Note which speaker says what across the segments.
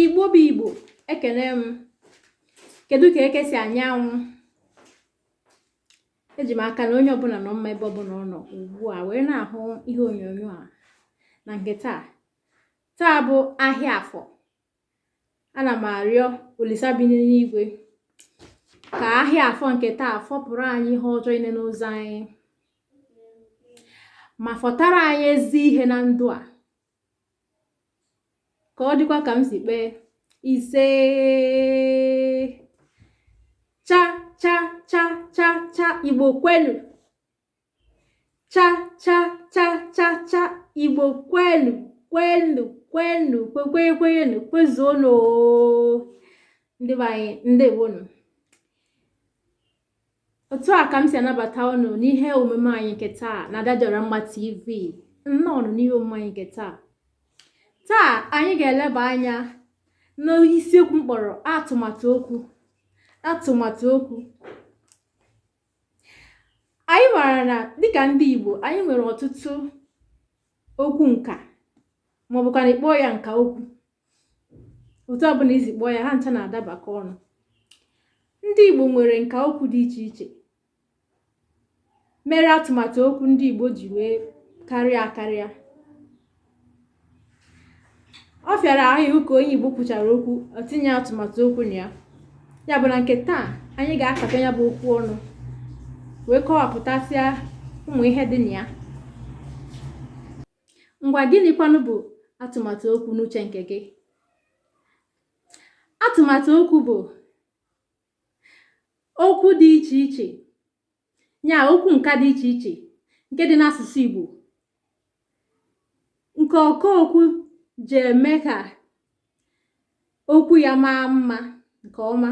Speaker 1: igbo bụ igbo ekele m kedu ka eke si anya anwụ eji m aka na onye ọbụla nọ mma ebe ọbụla ọ nọ ugbu a wee na-ahụ ihe onyonyo a na nke taa taa bụ ahịa afọ ana m arịọ olisa bi n'igwe ka ahịa afọ nke taa fọpụrụ anyị ihe ọjọọ niile n'ụzọ anyị ma fọtara anyị ezi ihe na ndụ a ka ọ dịkwa ka m si kpee ise cha cha cha cha cha igbo kwenu cha cha cha cha cha igbo kwenu kwenu kwenu kwekwenye kwenyenu kwezuonu ndị be anyị ndewonu otu a ka m si anabata unu n'ihe omume anyị nke taa na Adadịọramma TV nnọọ n'ihe omume anyị nke taa taa anyị ga-eleba anya n'isiokwu m kpọrọ atụmatụ okwu atụmatụ okwu anyị maara na dịka ndị Igbo anyị nwere ọtụtụ okwu nka ma ọ bụkwanụ ị kpọọ ya nka okwu otu ọbụla i si kpọọ ya ha ncha na-adabakọ ọnụ ndị Igbo nwere nka okwu dị iche iche mere atụmatụ okwu ndị Igbo ji wee karịa akarịa ọ fịara ahụ ịhụ ka onye igbo kwuchara okwu o tinye atụmatụ okwu na ya ya bụ na nke taa anyị ga-akata ya bụ okwu ọnụ wee kọwapụtasịa ụmụ ihe dị na ya ngwa gịnịkwanụ bụ atụmatụ okwu n'uche nke gị atụmatụ okwu bụ okwu dị iche iche nya okwu nka dị iche iche nke dị n'asụsụ Igbo nke ọkaokwu ji eme ka okwu ya maa mma nke ọma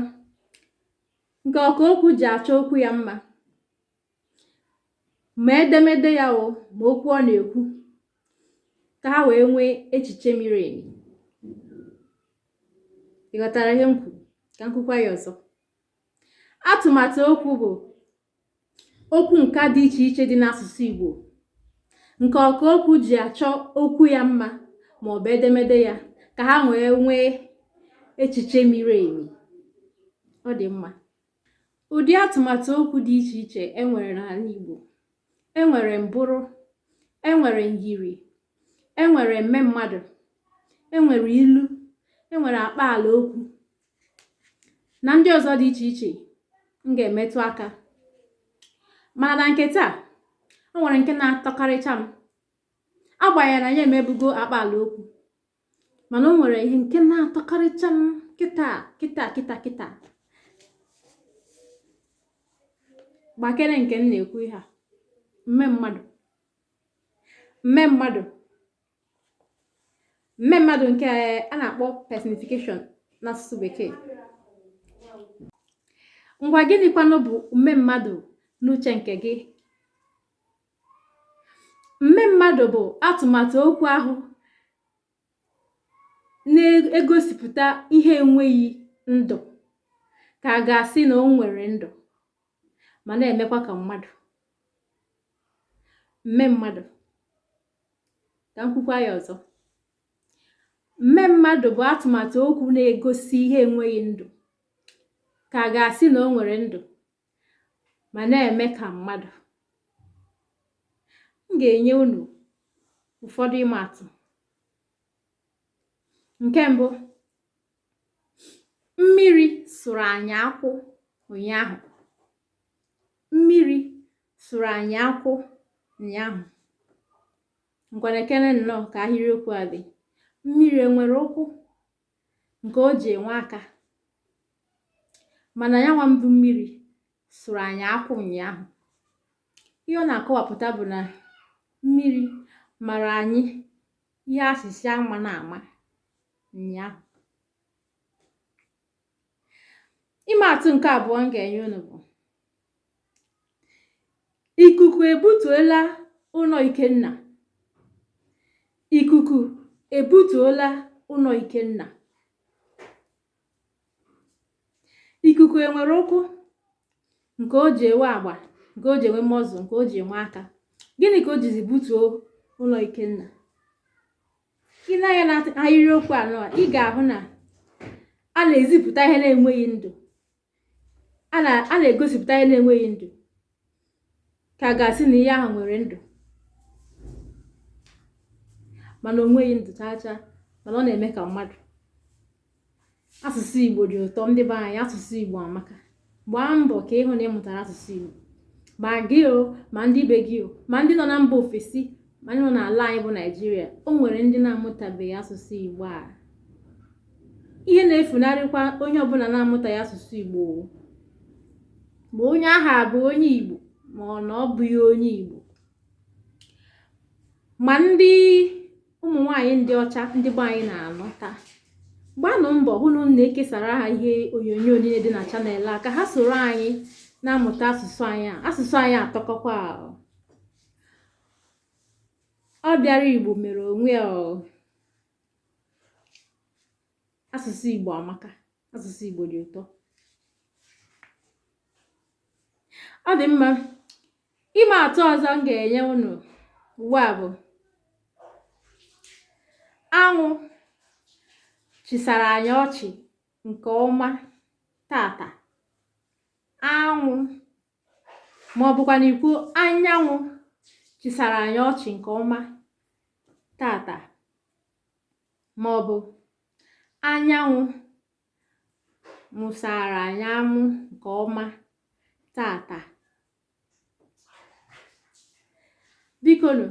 Speaker 1: nke ọkaokwu ji achọ okwu ya mma ma edemede ya o ma okwu ọ na-ekwu ka ha wee nwee echiche miri emi ị ghọtara ihe m kwuru ka m kwukwaa ya ọzọ atụmatụ okwu bụ okwu nka dị iche iche dị n'asụsụ Igbo nke ọka okwu ji achọ okwu ya mma ma ọ bụ edemede ya ka ha wee nwee echiche miri emi ọ dị mma ụdị atụmatụ okwu dị iche iche enwere n'ala Igbo enwere mbụrụ enwere myiri enwere mmemmadụ enwere ilu enwere akpaala okwu na ndị ọzọ dị iche iche m ga-emetụ aka mana na nke taa o nwere nke na-atọkarịcha m agbanyeghị na anyị emebugo akpa ala okwu mana o nwere nke na-atọkarịcha m kịta kịta kịta kịta gbakere nke m na-ekwu ihe a mme mmadụ mme mmadụ mme mmadụ nke a na-akpọ personification n'asụsụ bekee ngwa gịnịkwanụ bụ mme mmadụ n'uche nke gị mme mmadụ bụ atụmatụ okwu ahụ na-egosipụta ihe enweghị ndụ ka a ga-asị na o nwere ndụ ma na-emekwa ka mmadụ mme mmadụ ka m kwukwa ya ọzọ mme mmadụ bụ atụmatụ okwu na-egosi ihe enweghị ndụ ka a ga-asị na o nwere ndụ ma na-eme ka mmadụ m ga-enye unu ụfọdụ ịma atụ nke mbụ mmiri sụrụ anyị akwụ ụnyaahụ mmiri sụrụ anyị akwụ ụnyaahụ ngwa nekene nnọọ ka ahịrịokwu a dị mmiri enwerọ ụkwụ nke o ji enwe aka mana ya nwa bụ mmiri sụrụ anyị akwụ ụnyaahụ ihe ọ na-akọwapụta bụ na mmiri mara anyị ihe a sị sị ama na ama ụnyaahụ ịma atụ nke abụọ m ga-enye unu bụ ikuku ebutuola ụnọ Ikenna ikuku ebutuola ụnọ Ikenna ikuku enwerọ ụkwụ nke o ji enwe agba nke o ji enwe mọzụ nke o ji enwe aka gịnị ka o jizi butuo ụnọ Ikenna i nee anya na ahịrịokwu a nụwa ị ga-ahụ na a na-ezipụta ihe na-enweghị ndụ a na-egosipụta ihe na-enweghị ndụ ka a ga-asị na ihe ahụ nwere ndụ mana o nweghị ndụ chaa chaa mana ọ na-eme ka mmadụ asụsụ igbo dị ụtọ ndị be anyị asụsụ igbo amaka gbaa mbọ ka ị hụ na ị mụtara asụsụ igbo ma gị o ma ndị be gị o ma ndị nọ na mba ofesi mana n'ala anyị bụ naijiria o nwere ndị na-amụtabeghị asụsụ igbo a ihe na-efunarịkwa onye ọbụla na-amụtaghị asụsụ igbo ma onye ahụ abụ onye igbo ma ọ na ọ bụghị onye igbo ma ndị ụmụ nwanyị ndị ọcha ndị be anyị na-anụta gbaanụ mbọ hụ na unu na-ekesara ha ihe onyonyo niile dị na channel a ka ha soro anyị na-amụta asụsụ anyị asụsụ anyị atọkọkwa ọ bịara igbo mere onwe ya asụsụ igbo amaka asụsụ igbo dị ụtọ ọ dị mma ịma atụ ọzọ m ga-enye unu ugbu a bụ anwụ chịsara anyị ọchị nke ọma tata anwụ ma ọ bụkwanụ ikwu anyanwụ chịsara anyị ọchị nke ọma tata ma ọ bụ anyanwụ mụsara anyị amụ nke ọma tata bikonu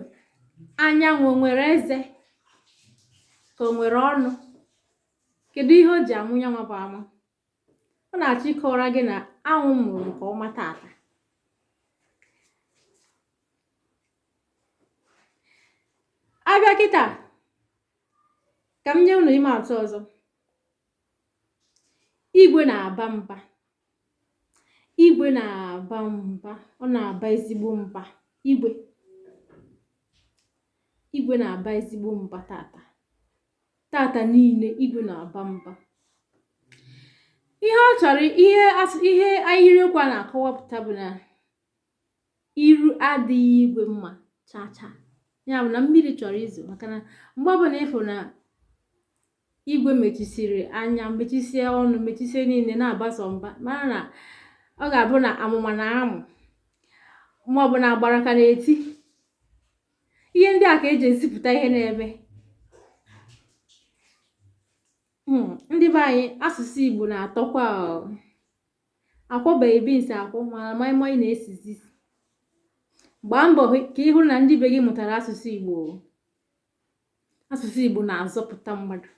Speaker 1: anyanwụ o nwere eze ka o nwere ọnụ kedu ihe o ji amụ nya nwa bụ amụ ọ na-achọ ịkọwara gị na anwụ mụrụ nke ọma tata a bịa kịta ka m nye unu ịma atụ ọzọ igwe na-aba mba igwe na-aba mba ọ na-aba ezigbo mba igwe igwe na-aba ezigbo mba tata tata niile igwe na-aba mba ihe ọ chọrọ ihe ihe ahịrịokwu a na-akọwapụta bụ na iru adịghị igwe mma chaa chaa ya bụ na mmiri chọrọ izo maka na mgbe ọbụla ị fụ na igwe mechisiri anya mechisie ọnụ mechisie niile na-abasa mba mara na ọ ga-abụ na amụma na-amụ maọbụ na agbara ka na-eti ihe ndị a ka e ji ezipụta ihe na-eme hmm, ndị be anyị asụsụ Igbo na-atọkwa a kwọbeghị bins akwọ mana maịmaị na-esi isi gbaa mbọ ka ị hụrụ na ndị be gị mụtara asụsụ Igbo asụsụ Igbo na-azọpụta mmadụ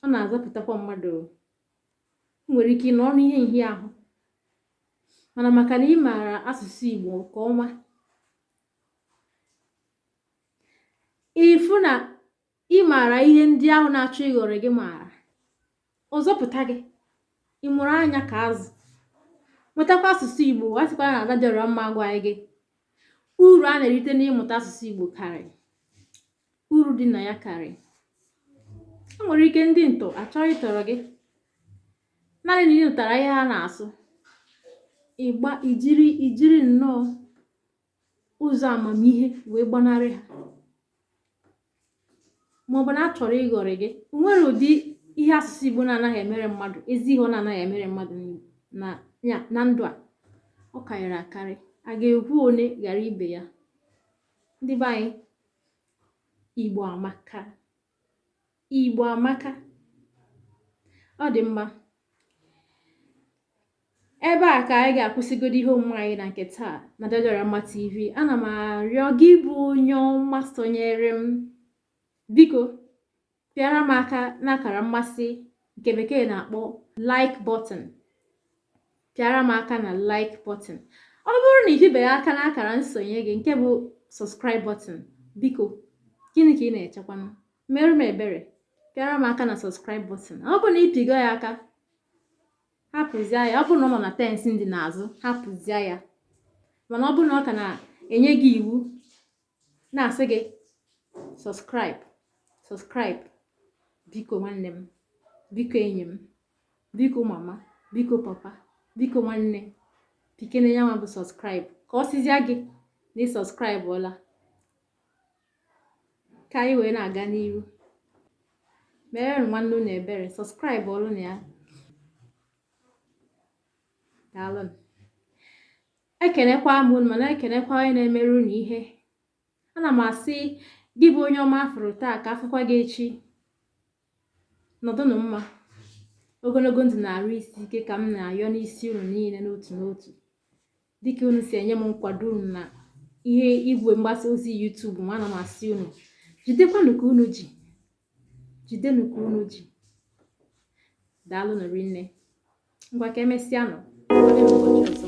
Speaker 1: ọ na-azọpụtakwa mmadụ nwere ike ịnọ ọnụ ihe nhịahụ mana maka na ị maara asụsụ Igbo nke ọma ịfụ na ị maara ihe ndị ahụ na-achọ ịghọrọ gị maara ụzọ pụta gị ị mụrụ anya ka azụ mụtakwa asụsụ igbo a sịkwa na Ada Dị Ọra Mma gwa gị uru a na-erite n'ịmụta asụsụ igbo karị uru dị na ya karị e nwere ike ndị ntọ achọọ ịtọrọ gị naanị na ị nụtara ihe ha na-asụ ị gbaa i jiri i jiri nnọọ ụzọ amamihe wee gbanarị ha maọbụ na a chọrọ ịghọrị gị nwere ụdị ihe asụsụ igbo na-anaghị emere mmadụ ezi ihe ọ na-anaghị emere mmadụ na ndụ a ọ karịrị akarị a ga-ekwu one ghara ibe ya ndị be anyị igbo amaka Igbo amaka ọ dị mma ebe a ka anyị ga-akwụsịgodo ihe omume anyị na nke taa n'Ada Dị Ọra Mma TV ana m arịọ gị bụ onye ọma sonyere m biko pịara m aka n'akara mmasị nke bekee na-akpọ like button pịara m aka na like button ọ bụrụ na ị pịbeghị aka n'akara nsonye gị nke bụ subscribe button biko gịnị ka ị na-echekwanụ mere m ebere pịara m aka na subscribe button ọ bụrụ na ị pịgo ya aka hapụzie ya ọ bụrụ na ọ nọ na tense ndịnaazụ hapụzie ya mana ọ bụrụ na ọ ka na-enye gị iwu na-asị gị subscribe subscribe biko nwanne m biko enyi m biko mama biko papa biko nwanne pịkene ya nwa bụ subscribe ka ọ sịzia gị na ị subscribe-ọla ka anyị wee na-aga n'iru mere nwanne unu ebere subscribe-ụọrọnụ ya daalụ ekenekwa m unu ma na-ekenekwa onye na-emere unu ihe ana m asị gị bụ onye ọma a fụrụ taa ka a fụkwa gị echi nọdụnụ mma ogologo ndụ na arụ isi ike ka m na-ayọ n'isi unu niile n'otu n'otu dịka unu si enye m nkwado unu na ihe igwe mgbasa ozi YouTube ma ana m asị unu jidekwanụ ka unu ji jidenụ ka unu ji daalụnụ rinne ngwa ka e mesịanụ ụbọchị ọzọ